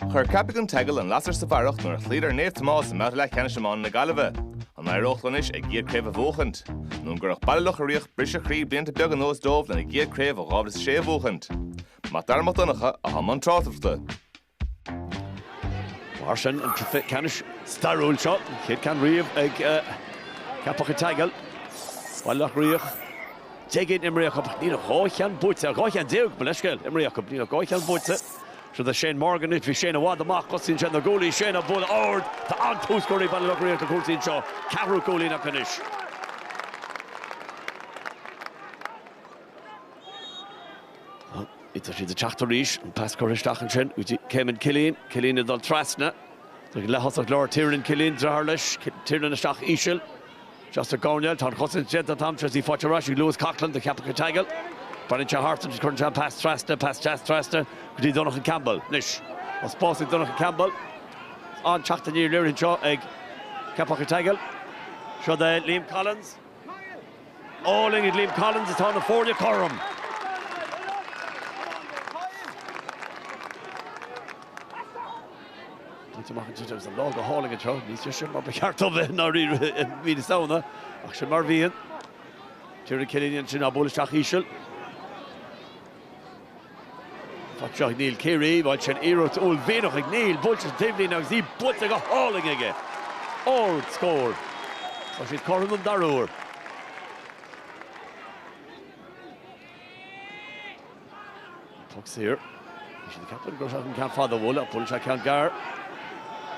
Chuir Ceapaigh an tSeagail an lasair sa bharrach nuair a chloíodar Naomh Tomás i mbabhta leathcheannais iomána na Gaillimhe. An éireodh leo anois a gcéad chraobh a bhuachaint? Nó an gcuirfeadh Baile Locha Riach briseadh croí blianta beaga anuas dóibh lena gcéad chraobh ó 2006 a bhuachaint? Mac Dara Mac Donncha, atá i mbun tráchtaireachta. Mar sin an cluiche ceannais stairiúil seo, an chéad ceann riamh ag Ceapaigh an tSeagail. Baile Locha Riach déag imrithe acu, ach níl ach dhá cheann buaite acu, dhá cheann déag, mo leithscéal, imrithe acu, níl ach dhá cheann buaite. Seod é Shane Morgan anois, bhí Shane i bhfad amach, tosaíonn sé na gcúilí, Shane á bualadh ard, tá an-tús curtha ag Baile Locha Riach le cúrsaí anseo, ceathrú cúilín acu anois. Tá siad ag teacht arís, an pas curtha isteach ansin go dtí Caimin Killeen, Killeen ag dul trasna, leath-thosach lár Tiernan Killeen, driotháir leis, Tiernan isteach íseal, isteach sa gcoirnéal, Tá an chosaint déanta ag Adam Tracey, faighte ar ais ag Lewis Coughlan do Cheapaigh an tSeagail. Breathnaíonn sé thart agus cuireann sé an pas trasna, pas deas trasna, go dtí Donncha Campbell. Anois, tá spás ag Donncha Campbell. Tá an-teacht aniar léirithe anseo ag Ceapaigh an tSeagail. Seod é Liam Collins. Álainn ag Liam Collins tá na foirne cothrom. Bainte amach inniu agus an lá go hálainn anseo, níos deise ná mar ba cheart dó bheith dháiríre i mí na Samhna, ach sin mar a bhíonn. Tiernan Killeen ansin á bualadh isteach íseal. Tá seo ag Neil Keary, bhain sé an iarracht uaillmhianach ag Neil buailte ar an taobhlíne agus í buailte go hálainn aige. Ardscór. Tá siad cothrom don dara huair. Puc saor. Bhí siad ag ceapadh go raibh an ceann fada a bhualadh ach buaileann sé ceann gearr.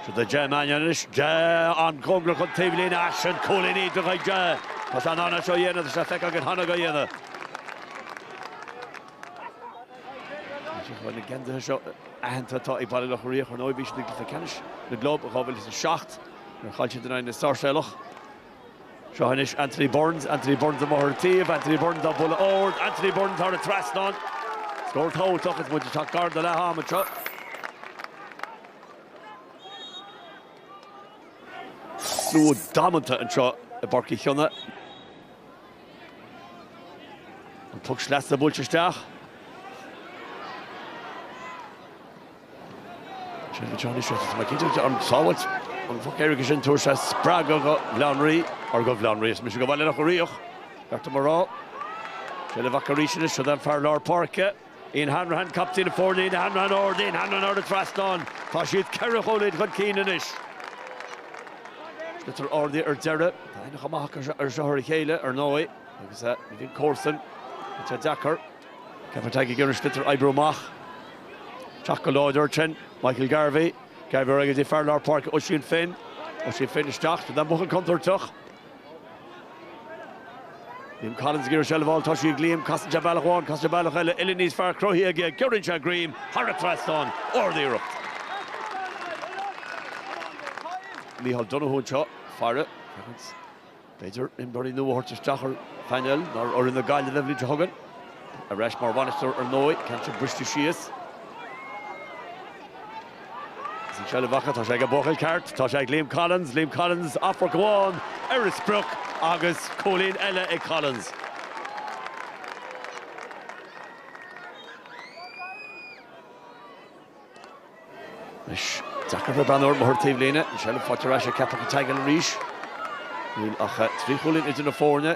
Siar ag Ja Mannion anois. Ja an-chóngarach don taobhlíne ach sin cúilín iontach ag Ja. Tá sé in ann é seo a dhéanamh, tá sé feicthe againn cheana aige a dhéanamh. Tá na geansaithe seo aitheanta atá ag Baile Locha Riach. Ar ndóigh bhí siad i gcluiche ceannais na gclub i 2007 nuair a chaill siad in aghaidh na Sáirséalach. Seo anois Anthony Burns, Anthony Burns amuigh ar an taobh, Anthony Burns á bhualadh ard, Anthony Burns thar an trasnán. Scór tábhachtach agus muid ag teacht gar do leath ama anseo. Slua damanta anseo i bPáirc Uí Chionnaith. An puc sleasa buailte isteach. Sin na teorainneacha seo is minic idir an tsábháil, an puc éirice sin tabharfaidh sé spreagadh do Bhaile Átha an Rí, ara do Bhaile Átha an Rí arsa mise, do Bhaile Locha Riach, ba cheart dom a rá. Seo leo amach arís anois, siúd é an fear lár páirce, Ian Hanrahan, captaen na foirne, Ian Hanrahan Ard, Ian Hanrahan thar an trasnán, tá siad ceithre chúilín chun cinn anois. Sliotar ardaithe ar deireadh, tá aithne chomh maith acu seo ar a chéile, ar ndóigh, agus ní bhíonn comharsan le teith deacair. Ceapaigh an tSeagail ag iarraidh an sliotar a oibriú amach teacht go láidir tinn. Michael Garvey, Garvey ar aghaidh go dtí fear lár páirce Oisín Finn, Oisín Finn isteach go dtí an buachaill contúirteach. Liam Collins ag iarraidh seilbh a fháil, tá sí ag Liam, casann sé bealach amháin, casann sé bealach eile, uillinn níos fearr cruthaithe aige, giorraíonn sé greim thar an trasnán, ardiarracht. Micheál Donoghue anseo ag faire. B'fhéidir imreoirí nua a thabhairt isteach ar phainéal nua úr na Gaillimhe an bhliain seo chugainn. Ar ais mar bhainisteoir ar ndóigh, ceann seo briste síos. Is an seilbh acu, tá sé ag an buachaill ceart, tá sé ag Liam Collins, Liam Collins, amharc amháin ar an sprioc agus cúilín eile ag Collins. Anois, deacair bheith beann ar Mhurtagh taobh líne. An seilbh faighte ar ais ag Ceapaigh An tSeagail arís. Níl ach trí chúilín idir na foirne.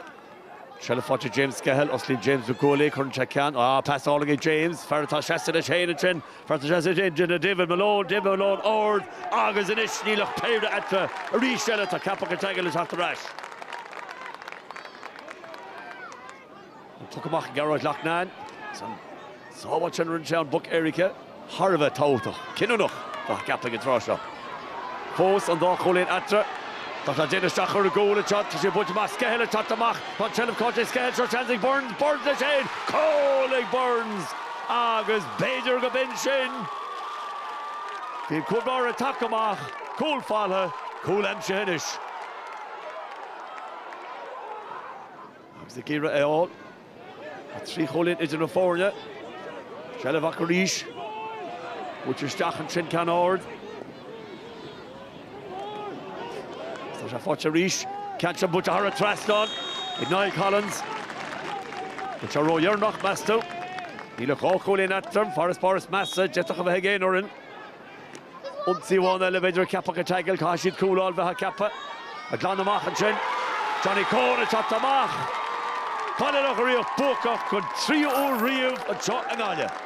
Seilbh faighte ag James Skehill. Osclaíonn James na guaillí. Cuireann sé ceann. Ah, pas álainn ag James. Fear atá seasta leis féin ansin. Fear atá seasta leis féin ná David Malone. David Malone ard agus anois níl ach péire eatarthu. Arís eile tá Ceapaigh An tSeagail ag teacht ar ais. An poc amach ag Gearóid Loughnane agus an sábháil sin a rinne sé ón bpoc éirice thar a bheith tábhachtach, cinniúnach cheapfá ag an tráth seo. Fós an dá chúilín eatarthu. Tá sé ag déanamh isteach ar an gcúl anseo, tá sé ag baint amach, Skehill ag teacht amach, tá an tseilbh caillte ag Skehill, seo seans ag Burns, Burns leis fhéin, cúl ag Burns agus b'fhéidir go b'in sin bhí an cúl báire ag teacht amach, cúl faighte, cúl aimsithe anois. agus ag iarraidh é a fháil, tá trí chúilín idir na foirne. Seilbh acu arís. Buailte isteach ansin ceann ard. Tá sé faighte arís. Ceann sin buailte thar an trasnán ag Niall Collins. An bhfuil sé ródheireanach, meas tú? Níl ach dhá chúilín eatarthu, an farasbarr is measa a d'fhéadfadh a bheith ag aon fhoireann. Ionsaí amháin eile b'fhéidir ag Ceapaigh an tSeagail. Caithfidh siad cúl a fháil bheifeá ag ceapadh. Ach glanta amach ansin. Johnny Coen ag teacht amach. Baile Locha Riach buacach don tríú uair riamh anseo i nGaillimh.